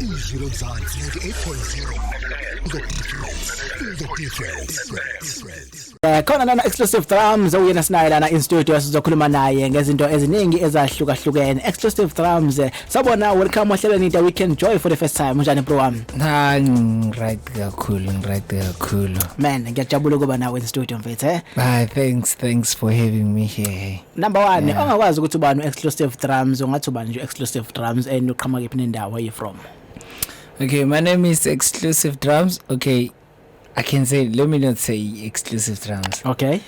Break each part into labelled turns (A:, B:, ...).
A: izwi lomzansi 98.0 the difference the difference Eh khona lana exclusive
B: drums oyena sinaye lana in studio sizokhuluma naye ngezinto eziningi ezahlukahlukene exclusive drums eh, sabona welcome ohlelweni the weekend joy for the first time unjani bro wami Ha right
C: kakhulu right kakhulu.
B: man ngiyajabula ukuba nawe in studio mfethu eh Hi thanks thanks
C: for having me here. Number 1 yeah. ongakwazi
B: ukuthi ubani exclusive drums ungathi ubani nje exclusive drums and uqhamuka kephi nendawo where you from Okay
C: my name is exclusive drums okay I can say let me not say exclusive drums
B: okay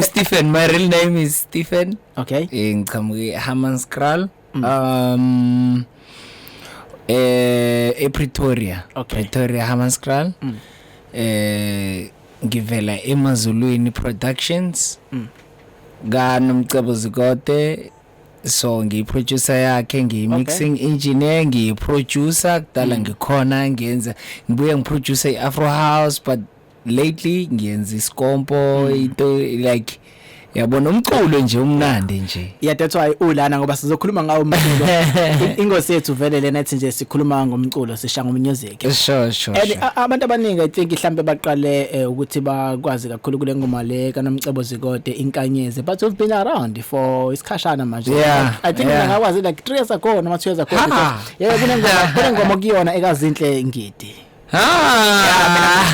C: Stephen my real name is Stephen okay eh,
B: ngiqhamuke
C: Hammanskraal Mm. Um eh ePretoria. Okay. Pretoria
B: Hammanskraal. Mm.
C: Eh ngivela eMazulwini Productions. Mm. Ka Nomcebo Zikote so ngiyiproducer yakhe ngiyimixing okay. engineer ngiyiproducer kudala mm. ngikhona ngiyenza ngibuye ngiproduce iAfro House but lately ngiyenza iskompo mm. into like yabona umculo nje umnandi nje yeah that's why ulana
B: ngoba sizokhuluma ngawo umculo ingosi yethu vele lena ethi nje sikhuluma ngomculo sisha ngomusic sure sure and
C: abantu
B: abaningi i think mhlambe baqale eh, ukuthi bakwazi kakhulu kule ngoma le kanomcebo zikode inkanyeze but we've been around for isikhashana manje yeah, i think yeah.
C: ngakwazi like
B: 3 years ago noma 2 years ago yeah kunengoma kunengoma kuyona ekazinhle ngidi Ah.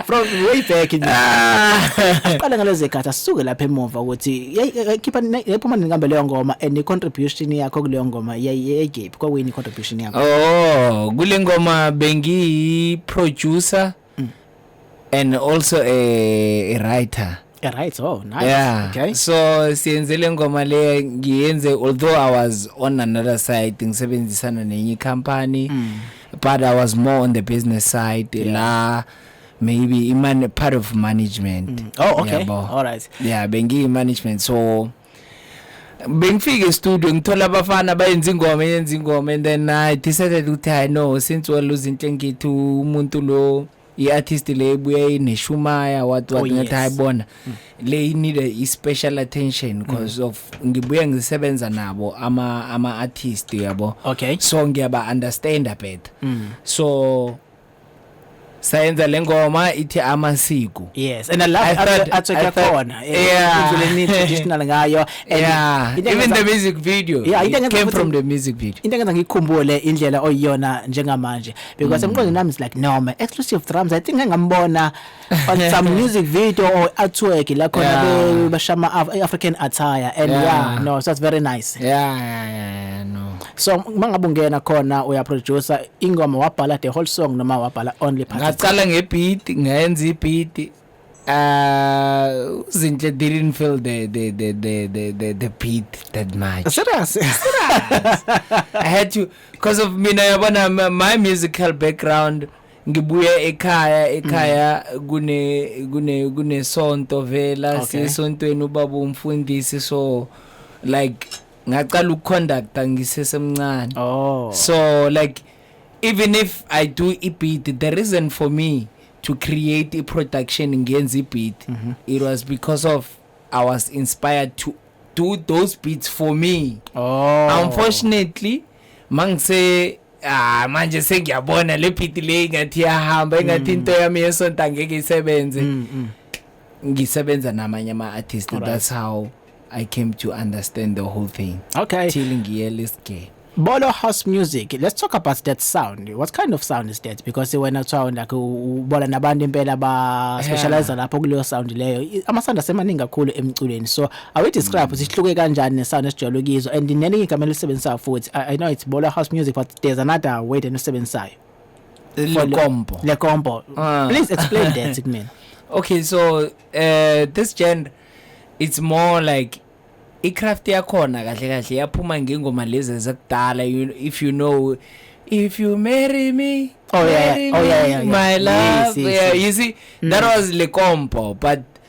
B: From way back nje. Ah. Aqale ngalezi zikhathi asuke lapha emuva ukuthi yayikhipha yayiphuma nenkambe leyo ngoma and contribution yakho kuleyo ngoma yayigephi kwakuyini contribution yakho? Oh, kule
C: ngoma bengiyi producer and also a, a writer Yeah, right oh nice
B: yeah okay so siyenze
C: le ngoma le ngiyenze although i was on another side ngisebenzisana nenye icompany mm. but i was more on the business side yeah. la maybe iman part of management mm. oh okay yabo. all
B: right yeah
C: bengiyi
B: management
C: so bengifike estudio ngithola abafana bayenza ingoma yenza ingoma and then i decided ukuthi hayi no since waluza into engithi umuntu lo i-artist le ebuya ineshumaya what what oh, ngathi yes. hayibona mm. le inida i-special attention because mm. of ngibuye ngisebenza nabo ama-artist ama yabo okay. so
B: ngiyaba-understanda
C: better mm. so sayenza lengoma ithi amasiko yes and i love I
B: thought- I atsweke thought- khona eh, Yeah. indleleni traditional ngayo and yeah into even
C: engenza- the music video Yeah, into it engenza came ukuthi- from the
B: music
C: video into engenza ngiyikhumbule
B: indlela oyiyona njengamanje because emqondweni nami is like no my exclusive drums i think engambona but some music video or artwork la khona Yeah. be bashama Af- African attire and Yeah. yeah no so that's very nice yeah yeah yeah, yeah
C: no so mangabe
B: ungena khona uya producer ingoma wabhala the whole song noma wabhala only part ngaqala ngebeat
C: ngayenza ibeat uh zinhle didn't feel the the the the the, the, the beat that much serious i had to because of mina yabona my- my musical background ngibuya ekhaya ekhaya mm. kune kune kunesonto vela okay. siyesontweni ubaba umfundisi so like ngaqala ukuconducta ngisesemncane oh. so like even if i do ibeat the reason for me to create a production ngenza ibeat mm -hmm. it was because of i was inspired to do those beats for me oh. unfortunately mangise ah manje sengiyabona le beat le ingathi yahamba ingathi into mm. yami yesonto angeke isebenze mm, mm. ngisebenza namanye ama artists right. that's how i came to understand the whole thing okay till ngiye
B: list
C: ke Bolo house
B: music let's talk about that sound what kind of sound is that because wena kuthiwa like ubola nabantu impela ba specialize lapho kuleyo sound leyo ama sound asemaningi kakhulu emculweni so awu describe ukuthi ihluke kanjani nesound esijwayele ukizwa and nelinye igama elisebenzisayo futhi I, i know it's bola house music but there's another way then usebenzisayo le combo le combo ah. please explain that to me okay so
C: uh, this genre it's more like icraft yakhona kahle kahle yaphuma ngengoma lezi ezakudala if you know if you marry me oh yeah, oh, yeah, yeah, yeah. my love yes, yes, yeah, yes. you see mm. that was le combo but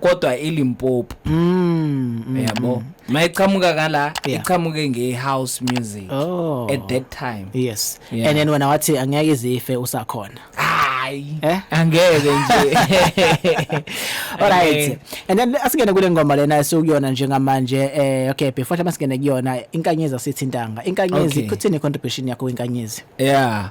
C: kodwa ilimpopo mm, mm, yabo mm. mayiqhamuka kala yeah. iqhamuke nge house music oh. at that time yes yeah. and then
B: wena wathi angeke izife usakhona hayi eh?
C: angeke nje alright
B: and then asingene kule ngoma lena esukuyona njengamanje eh okay before singene kuyona inkanyezi asithintanga inkanyezi okay. kuthini contribution yakho kwinkanyezi yeah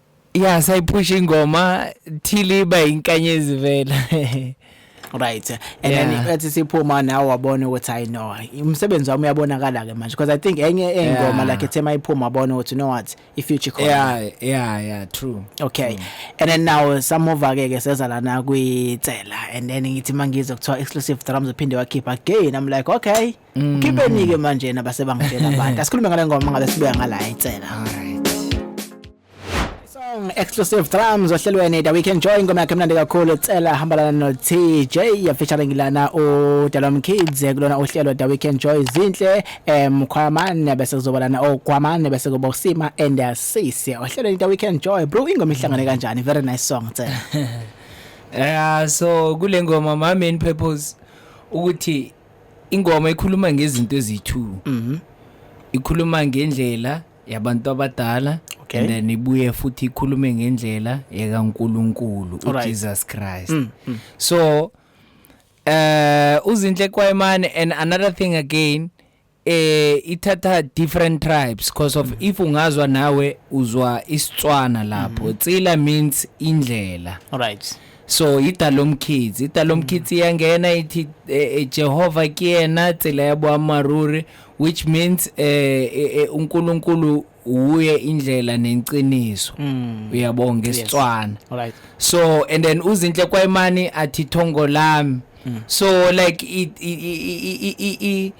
C: ya sayiphusha ingoma thili iba inkanyezi vela right
B: and yeah. then ethi siphuma nawe wabona ukuthi i know umsebenzi wami uyabonakala ke manje because i think enye engoma yeah. like ethema iphuma wabona ukuthi no what if future khona yeah yeah yeah true
C: okay mm. and
B: then now some of ake ke seza lana kwitsela and then ngithi mangizo kuthiwa exclusive drums uphinde wakhipha again i'm like okay Mm. Khipeni ke manje na base bangitshela abantu. Asikhulume ngale ngoma ngabe sibuya ngala itsela.
C: Song
B: exclusive drums ohlelweni The Weekend Joy ngoma yakhe mnandi kakhulu itsela hambalana no TJ ya featuring lana u Dalom Kids kulona uhlelo The Weekend Joy zinhle em khwamane bese kuzobalana okwamane bese kuba usima and asisi ohlelweni The Weekend Joy bro ingoma ihlangane kanjani very nice song itsela. Yeah so kule
C: ngoma my main purpose ukuthi ingoma ikhuluma ngezinto eziyi-two Mhm. ikhuluma ngendlela yabantu abadala Okay. and then ibuye futhi ikhulume ngendlela yakankulunkulu Alright. ujesus christ Mm, mm. so eh uzinhle kwayimane and another thing again eh ithatha different tribes because of if ungazwa nawe uzwa isitswana lapho tsila means indlela Alright.
B: so
C: idalomkhithi idalomkhithi mm. iyangena ithi eh, eh, Jehova kuyena tsela yabo amaruri which means eh, eh, eh uNkulunkulu uye indlela nenciniso mm. uyabonga ngesitswana yes. right. so
B: and then
C: uzinhle kwayimani athi thongo lami mm. so like i, i, i, i, i, i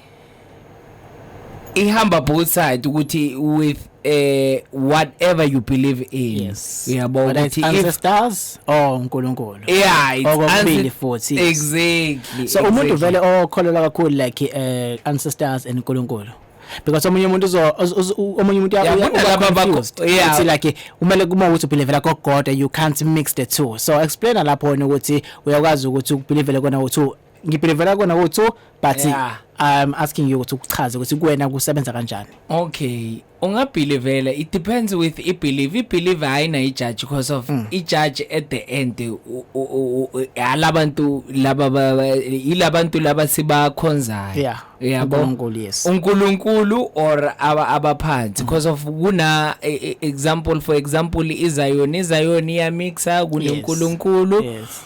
C: ihamba both side ukuthi with eh whatever you believe in yes uyabo ukuthi ancestors
B: or uNkulunkulu yeah it's okubili
C: futhi
B: exactly
C: so exactly. umuntu vele
B: okholelwa kakhulu like eh ancestors and uNkulunkulu because omunye umuntu uzo omunye umuntu uyakuthi like kumele kuma ukuthi ubelievela kogoda you can't mix the two so explain lapho ukuthi uyakwazi ukuthi ubelievele kona ukuthi ngibhilivela kona ukuthi but yeah. i'm asking you ukuthi ukuchaze ukuthi kuwena kusebenza kanjani okay
C: ungabhilivela it depends with i believe i believe ayina i judge because of mm. i judge at the end alabantu laba ilabantu laba sibakhonzayo yeah yabo uNkulunkulu
B: yes uNkulunkulu
C: or aba abaphansi mm. because of kuna e, e, example for example iZion iZion iya mixa kuNkulunkulu yes. yes.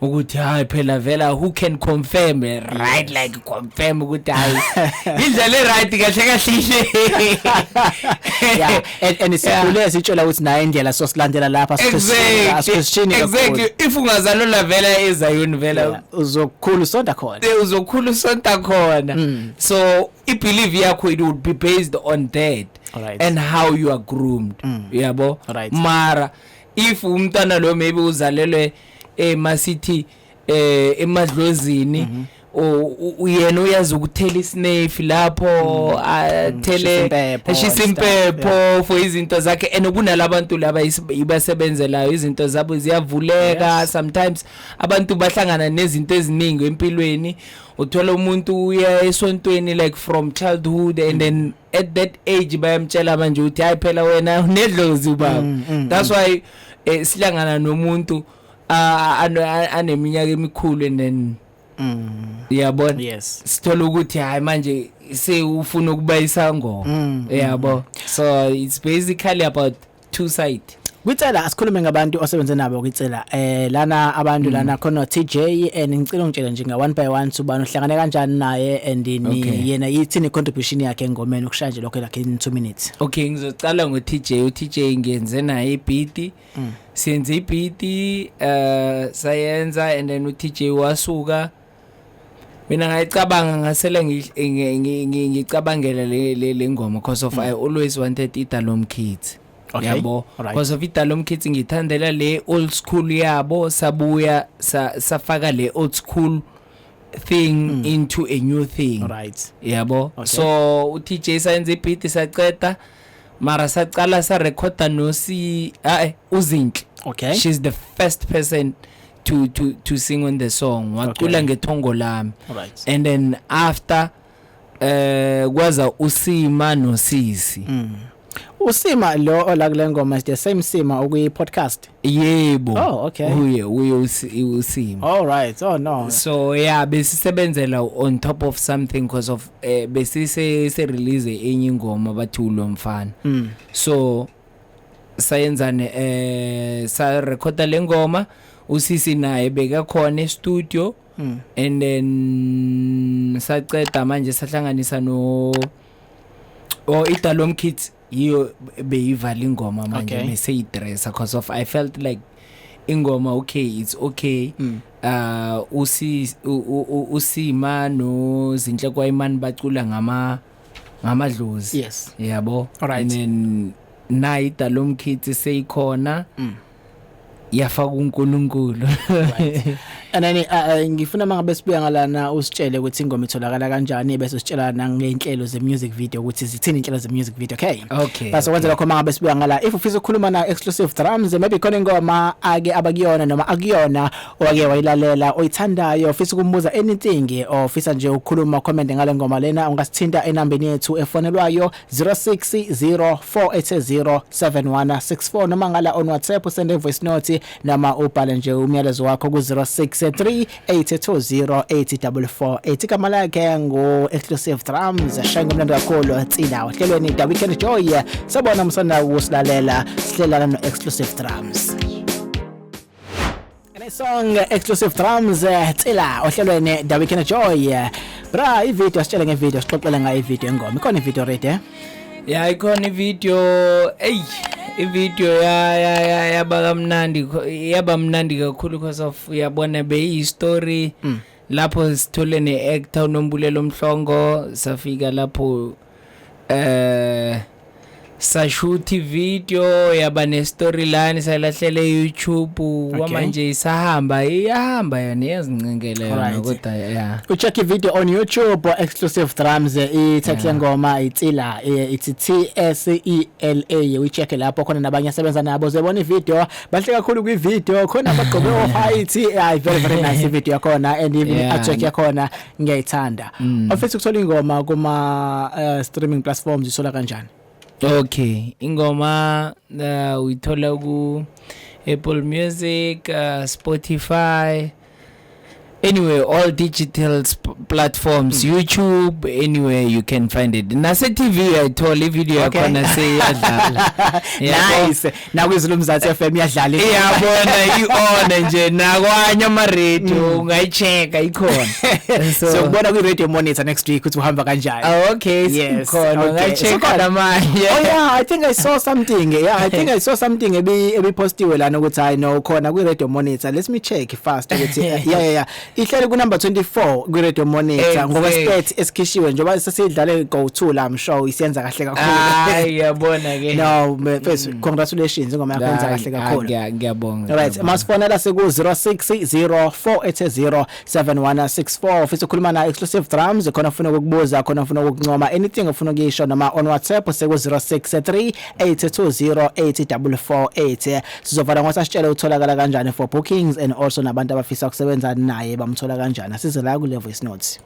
C: ukuthi hayi phela vela who can confirm right like confirm ukuthi hayi indlela right kahle kahle ile yeah
B: and and sikule sitshela ukuthi naye indlela so silandela lapha sisishini
C: exactly if ungazalula vela ezayoni vela uzokhulu sonta
B: khona eh, uzokhulu sonta khona hmm. so
C: i believe yakho it would be based on that right. and how
B: you are
C: groomed hmm. uyabo right. mara if umntana lo maybe uzalelwe eh masithi eh emadlozini mm -hmm. uyena uyazi ukuthela isnefi lapho mm. athele mm, ashisa impepho for izinto zakhe and kunalabantu laba ibasebenzelayo izinto zabo ziyavuleka sometimes abantu bahlangana nezinto eziningi empilweni uthola umuntu uya esontweni like from childhood and then mm. at that age bayamtshela manje ukuthi hayi phela wena unedlozi ubaba mm, mm, mm. that's why eh, silangana nomuntu aneminyaka emikhulu and then yabona yes sithola
B: ukuthi hayi
C: manje sewufuna ukuba isangoma yabo so it's basically about two side Kwicela asikhulume
B: ngabantu osebenze nabo kwicela eh lana abantu lana mm. khona TJ and ngicela ungitshele nje nga one by one subani uhlangane kanjani naye and ni yena yithini contribution yakhe engomeni ukushaya nje lokho lakhe in 2 minutes okay ngizocala ngo
C: TJ u TJ ngiyenze naye ibhiti mm. senze ibhiti eh sayenza and then u TJ wasuka mina ngayicabanga ngasele ngicabangela le ngoma because of mm. i always wanted idalom kids okay. yabo right.
B: because of
C: idalom kids ngithandela le old school yabo sabuya sa, safaka le old school thing mm. into a new thing right yabo
B: okay. so
C: uTJ sayenza ibeat saceda mara sacala sa recorder no si eh uzinhle okay she's
B: the first
C: person to to to sing on the song wacula ngethongo lami and then after eh kwaza usima nosisi mm.
B: usima lo ola kule ngoma is the same sima okuyi podcast yebo
C: oh okay uye
B: uye
C: usima all right oh
B: no so yeah
C: besisebenzela on top of something because of eh, besise se release enye ingoma bathi ulomfana mm. so sayenzani eh sa recorda lengoma usisi naye bekakhona e-studio mm. and then saceda manje sahlanganisa no o Idalom Kids yiyo beyivala ingoma manje okay. bese idressa because of I felt like ingoma okay it's okay mm. uh usi usima no zinhle kwayimani bacula ngama uh, ngamadlozi yes yabo
B: Alright. and then
C: nayi dalomkhithi seyikhona mm. yafaka uNkulunkulu
B: anani uh, uh, ngifuna mangabe sibuya ngalana usitshele ukuthi ingoma itholakala kanjani bese usitshela nangenhlelo ze music video ukuthi zithini inhlelo ze music video okay okay base kwenza lokho mangabe sibuya ngala if ufisa ukukhuluma na exclusive drums maybe khona ingoma ake abakuyona noma akuyona Owake wayilalela oyithandayo ofisa ukumbuza anything ofisa nje ukukhuluma comment ngale ngoma lena ungasithinta enambeni yethu efonelwayo 0604807164 noma ngala on WhatsApp usende voice note noma ubhale nje umyalezo wakho ku 06382084 ethi igama lakhe ngu Exclusive Drums shaya ngomlando kakhulu tsina ohlelweni da weekend joy sabona umsana ukusilalela sihlelana no Exclusive Drums Song exclusive drums eh, Tsila ohlelweni The Weekend Joy eh, bra ivideo sitshele ngevideo sixoxele ngayo ivideo engoma ikhona ivideo ready eh ya ikhona
C: ivideo ey ivideo ya ya ya yaba kamnandi yaba mnandi kakhulu because of uyabona beyi story mm. lapho sithole ne actor uNombulelo Mhlongo safika lapho eh sashuthi video yaba ne storyline sayilahlela eYouTube kwamanje isahamba iyahamba yona iyazincengela yona kodwa yeah u check video on
B: YouTube exclusive drums i title ngoma itsila ithi T S E L A we check lapho khona nabanye asebenza nabo zebona ivideo bahle kakhulu kwi video khona bagqoke o height ay very very nice video yakhona and even a check yakhona ngiyayithanda mm. ofisa ukuthola ingoma kuma uh, streaming platforms isola kanjani okay
C: ingoma uh, uyithola ku Apple Music uh, Spotify anyway all digital platforms mm. youtube anywhere you can find it nase tv uyayithola ivideo yakhona okay. seyiyadlala nice
B: nakwizwi lomzansi FM iyadlala iyabona
C: ione nje nakwanye ama radio mm. ungayicheka ikhona so sokubona
B: kwi radio monitor next week ukuthi uhamba kanjani ah, okay sikhona ungacheka
C: namanje oh yeah i think i
B: saw something yeah i think i saw something ebi ebipostiwe lana ukuthi i know khona kwi radio monitor let me check fast ukuthi yeah yeah yeah ihleli kunumber 24 kwi-radio monitor Exactly. ngokwestate esikhishiwe njengoba sesidlale go-to la mshow isiyenza kahle kakhulu hayi yabona ke no
C: mfethu
B: congratulations ingoma yakho yenza kahle Ah, kakhulu ngiya- ngiyabonga Right, ngiyabonga.
C: masifonela
B: siku 0604800764 ufisa ukukhuluma na exclusive drums khona ufuna ukukubuza khona ufuna ukukuncoma anything ufuna ukuyisho noma on WhatsApp siku 0638208448 Sizovala ngokuthi asitshele utholakala kanjani for bookings and also nabantu abafisa ukusebenza naye bamthola kanjani. Asize la kule voice note.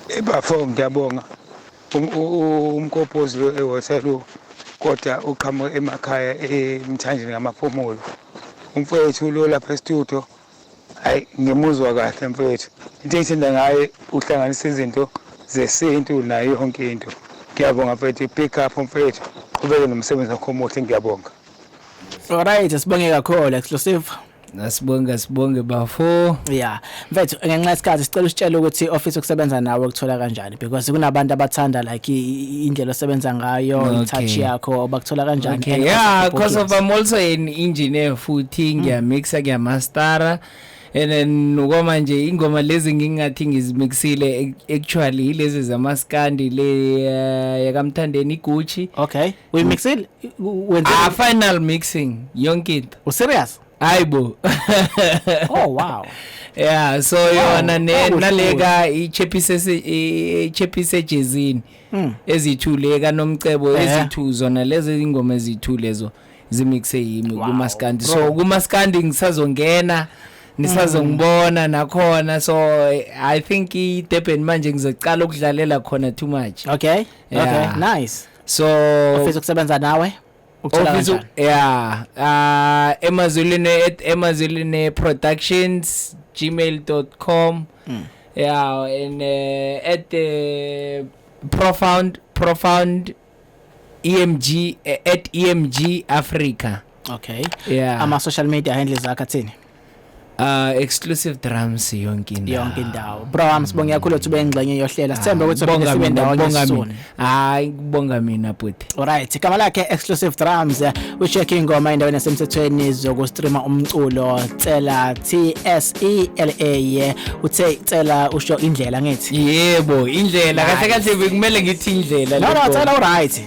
A: Ebafo ngiyabonga Um- u- u- umkopozi lo eWaterloo kodwa uqhamuke emakhaya emthanjeni ngamaphumulo umfowethu lo lapha estudio hayi ngimuzwa kahle mfowethu into engithanda ngaye uhlanganisa izinto zesintu nayo yonke into ngiyabonga mfowethu pick up mfowethu qhubeke nomsebenzi wakho omuhle ngiyabonga alright
B: sibonge kakhulu exclusive Nasibonga
C: sibonge bafo. Yeah. Mfethu
B: ngenxa isikhathi sicela usitshele ukuthi office okusebenza nawe ukuthola kanjani. because kunabantu abathanda like i- indlela osebenza ngayo Okay. itouch yakho bakuthola kanjani Okay, And yeah, also because of
C: bookings. I'm also an engineer futhi ngiyamixa ngiyamastara and then ukoma nje ingoma lezi ngingathi ngizimixile ac- actually ilezi zamaskandi le eh, yakamthandeni Gucci okay uyimixile
B: U- wenze ah final mixing
C: yonke into userious hayi
B: bo oh
C: wow
B: yeah so
C: wow. yona ne naleka ichephise ichephise ejezini hmm. ezithule kanomcebo eh. ezithu zona lezi ingoma ezithu lezo zimixe yimi kumaskandi so kumaskandi ngisazongena nisazongibona hmm. nakhona so i think i Durban manje ngizocala ukudlalela khona too much okay yeah. okay
B: nice so
C: ufisa ukusebenza
B: nawe Ukuthola Ofisa
C: kanjani? yeah ah emazulwini at emazulwini productions gmail.com Mm. yeah and uh, at uh, profound profound emg eh, at emg africa Okay.
B: yeah Ama social
C: media handles
B: akhe athini? Uh
C: exclusive drums yonke indawo. Yonke indawo. Bro
B: wami sibonga kakhulu ukuthi ube ingxenye yohlela. Sithembe ukuthi uphinde sibe ndawonye soon. Hayi kubonga
C: mina bhuti. Alright, igama lakhe
B: exclusive drums ucheck ingoma endaweni yasemthethweni zokustreama umculo Tsela T S E L A. Uthe Tsela usho indlela ngithi. Yebo, indlela.
C: Kahle kahle bekumele ngithi indlela.
B: No no, Tsela uRight.